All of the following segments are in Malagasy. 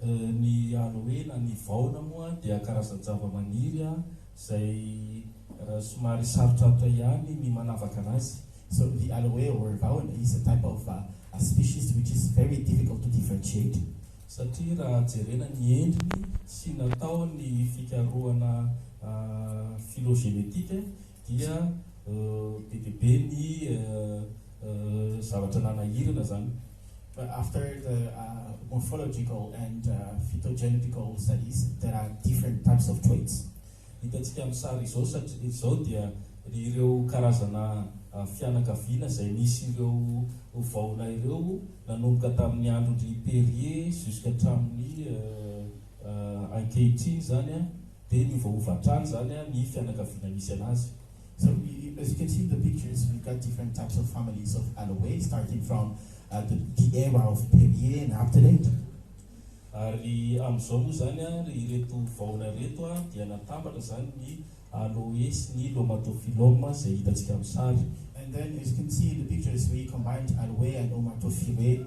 Ny Aloe na ny Vaona moa dia karazan-javamaniry izay somary sarotrarotra ihany ny manavaka anazy. So the Aloe or Vaona is a type of a species which is very difficult to differentiate. Satria raha jerena ny endriny sy natao ny fikarohana phylogenetique dia be dia be ny. zavatra nanahirana zany fa after the morphological and phytogenetical studies there are different types of traits hitantsika amin'ny sary izao satria izao dia ireo karazana fianakaviana izay misy ireo vaona ireo nanomboka tamin'ny andron-dry Perrier jusqu'à hatramin'ny ankehitriny zany dia miovaova hatrany zany ny fianakaviana misy anazy So as you can see the pictures we've got different types of families of Aloe starting from the the era of Perrier and after that. Ary amin'izao moa izany ary ireto vahona ireto dia natambatra izany ny Aloe sy ny Lomatophyllum izay hitantsika amin'ny sary. And then as you can see in the pictures we combined Aloe and Lomatophyllum.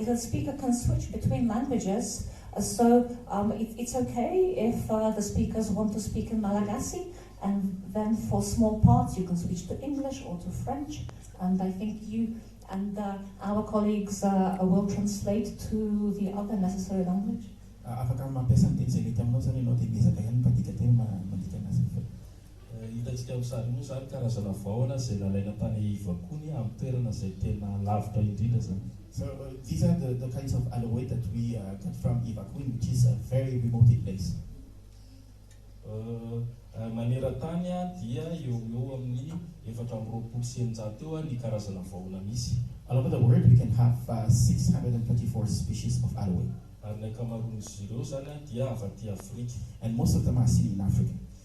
It will speak it can switch between languages so it's ok if the speakers want to speak in Malagasy and then for small parts you can switch to English or to French and I think you and our colleagues will translate to the other necessary language. Afaka mampiasa ny teny izay mety aminao izany ianao dia miezaka ihany ny mpandika teny mandika an'azy avy eo. Hitantsika amin'ny sary moa izany karazana vahona izay nalaina tany Ivakony amin'ny toerana izay tena lavitra indrindra izany. So these are the the kinds of aloe that we cut from Ivakony which is a very remote place. Maneran-tany dia eo ho eo amin'ny efatra amby roapolo sy eninjato eo ny karazana vahona misy. All over the world we can have six hundred and thirty four species of aloe. Ary ny ankamaroan'izy ireo izany dia avy aty Afrika. And most of them are seen in Africa.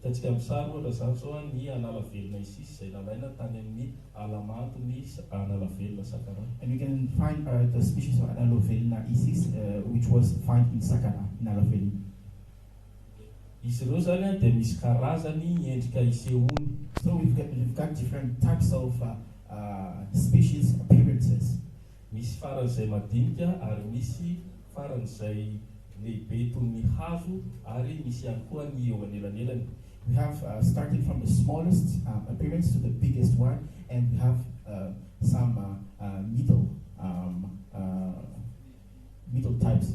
Hitantsika amin'ny sary ohatra izany izao ny an'ala velona Isis izay nalaina tany amin'ny ala mando ny an'ala velona Sakaraha. And we can find the species of an'ala velona Isis which was find in Sakaraha, ny ala velona. Izy ireo izany dia misy karazany ny endrika isehoany. So we've got different types of species appearances. Misy faran'izay madinika ary misy faran'izay lehibe toy ny hazo ary misy ihany koa ny eo anelanelany. We have starting from the smallest appearance to the biggest one and we have some middle middle types.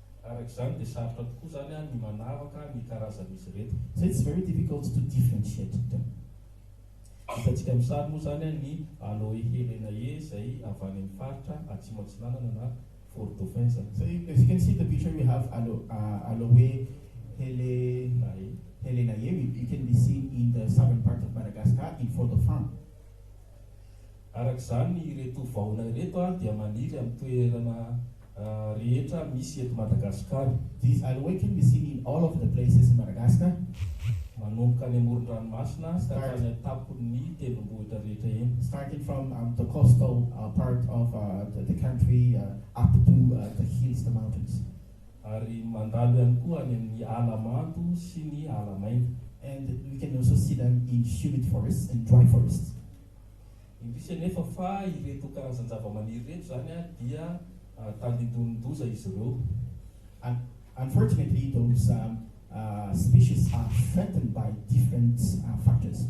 Araka izany dia sarotra tokoa izany ny manavaka ny karazan'izy ireto. So it's very difficult to differentiate them. Hitantsika amin'ny sary moa izany ny Aloe helenae izay avy any amin'ny faritra Atsimo Atsinanana na Fort Dauphin izany. So as you can see the picture we have Aloe helenae helenae it can be seen in the southern part of Madagascar in Fort Dauphin. Araka izany, ireto vahona ireto dia maniry amin'ny toerana rehetra misy eto Madagasikara. These are waiting be seen in all of the places in Madagascar. Manomboka any amoron-dranomasina ka hatrany an-tampon'ny tendrombohitra rehetra eny. Starting from the coastal part of the country up to the hills, the mountains. Ary mandalo ihany koa any amin'ny ala mando sy ny ala maina. And we can also see them in humid forests and dry forests. Indrisy anefa fa ireto karazan-javamaniry ireto izany dia tandindonin-doza izy ireo. Unfortunately those species are threatened by different factors.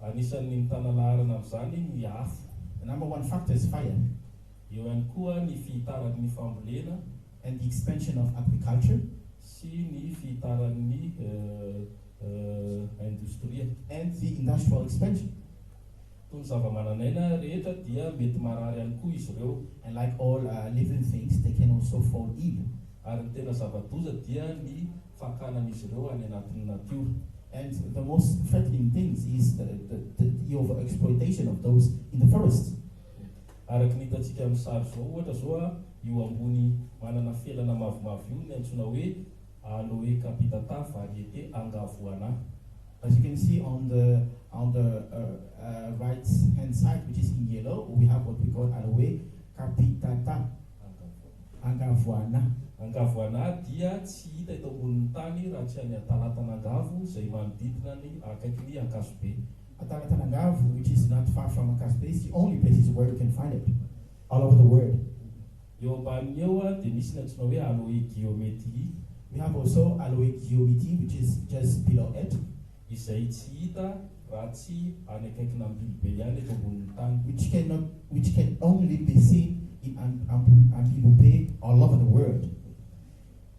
Anisan'ny mitana laharana amin'izany ny afo. The number one factor is fire. Eo ihany koa ny fihitaran'ny fambolena. And the expansion of agriculture. Sy ny fihitaran'ny indostria. And the industrial expansion. Toy ny zavamananaina rehetra dia mety marary ihany koa izy ireo. And like all living things they can also fall ill. Ary ny tena zava-doza dia ny fakanan'izy ireo any anatin'ny natiora. And the most threatening things is the the the the over exploitation of those in the forest. Araka ny hitantsika amin'ny sary izao ohatra izao, io ambony manana felana mavomavo io no antsoina hoe. Aloe capita ta variété Angavoana. As you can see on the on the right hand side which is in yellow we have what we call Aloe capita ta Angavoana. Angavoana dia tsy hita eto ambonin'ny tany raha tsy any Talatanangavo izay manodidina ny akaiky ny Ankazobe. At Talatanangavo which is not far from Ankazobe is the only places where we can find it all over the world. Eo ambaniny eo dia misy ny antsoina hoe Aloe Guillaumetii, mihava ao sao Aloe Guillaumitii which is just below it, izay tsy hita raha tsy any akaikina Ambilobe ihany eto ambonin'ny tany. Which cannot which can only be seen in Ambilobe all over the world.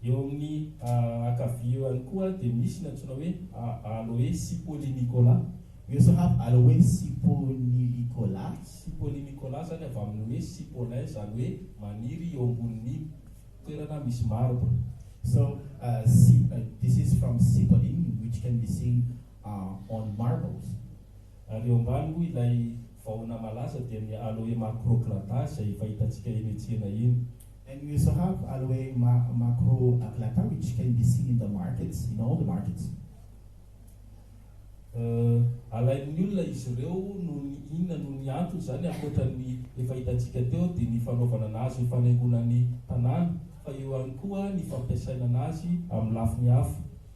Eo amin'ny ankavia eo ihany koa dia misy ny antsoina hoe Aloe sipolinicola. We also have Aloe siponicola, sipolinicola izany avy amin'ny hoe sipolin izany hoe maniry eo ambonin'ny toerana misy marbre. So this is from sipolin which can be seen on marbles. Ary eo ambany moa ilay vahona malaza dia ny Aloe macroclada izay efa hitantsika eny an-tsena eny. And you also have ary hoe macro aglata which can be seen in the market, in all the markets. Alain'ny olona izy ireo noho ny inona noho ny antony izany ankoatra ny efa hitantsika teo dia ny fanaovana anazy ho fanaingoana ny tanàna fa eo ihany koa ny fampiasaina anazy amin'ny lafiny hafa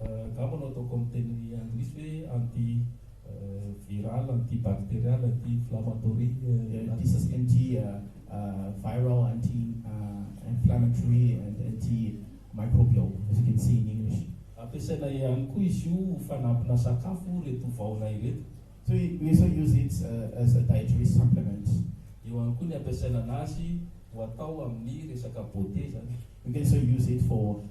Angamba no ataoko amin'ny teny anglisy hoe anti viral, anti bacterial, anti inflammatory, anti anti viral, anti inflammatory and anti microbial as you can see in English. Ampiasaina ihany koa izy io ho fanampina sakafo ireto vahona ireto. Toy We shall use it as a dietary supplement. Eo ihany koa ny ampiasaina anazy ho atao amin'ny resaka beauté zany. We can also use it for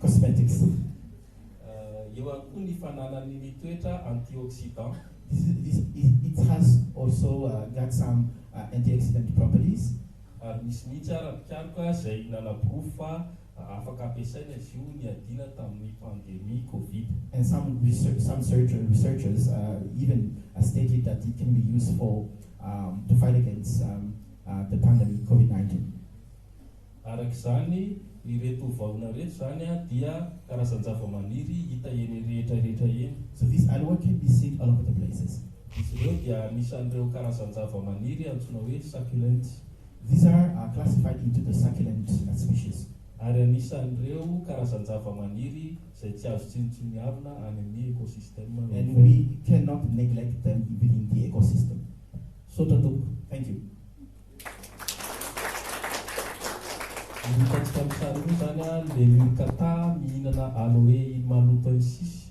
cosmetics. Eo ihany koa ny fananany ny toetra antioxidant. It has also got some antioxidant properties. Ary misy mihitsy ara mpikaroka izay nanaporofo fa Raha afaka ampiasaina izy io niadiana tamin'ny pandemie covid. And some research, some surgeon, researchers uh, even uh, stated that it can be used for um, to fight against um, uh, the pandemic COVID-19. Araka izany, ireto vahona ireto izany dia karazan-javamaniry hita eny rehetra rehetra eny. So this aloe can be seen all over the places. Izy ireo dia anisan'ireo karazan-javamaniry antsoina hoe succulent. These are are classified into the succulent species. Ary anisan'ireo karazan-javamaniry izay tsy azo tsinontsinoiavina any amin'ny ekosistema ny And we feniny. cannot neglect them within the ecosystem. Misaotra tompoko. Thank you. Ny hitantsika amin'ny sary io moa izany a, lemur catta mihinana aloe iny maloto iny sisa.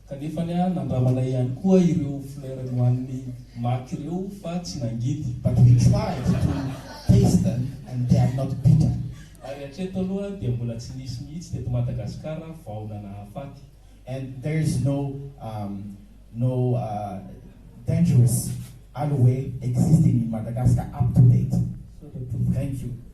Kanefa anie nandramana ihany koa ireo fleurs nohanin'i Mac ireo fa tsy nangidy. But we tried to taste them and they are not bitter. Ary hatreto aloha dia mbola tsy nisy mihitsy teto Madagascar vaona nahafaty. And there is no um no uh dangerous aloe existing in Madagascar up to date. So they proved. Thank you.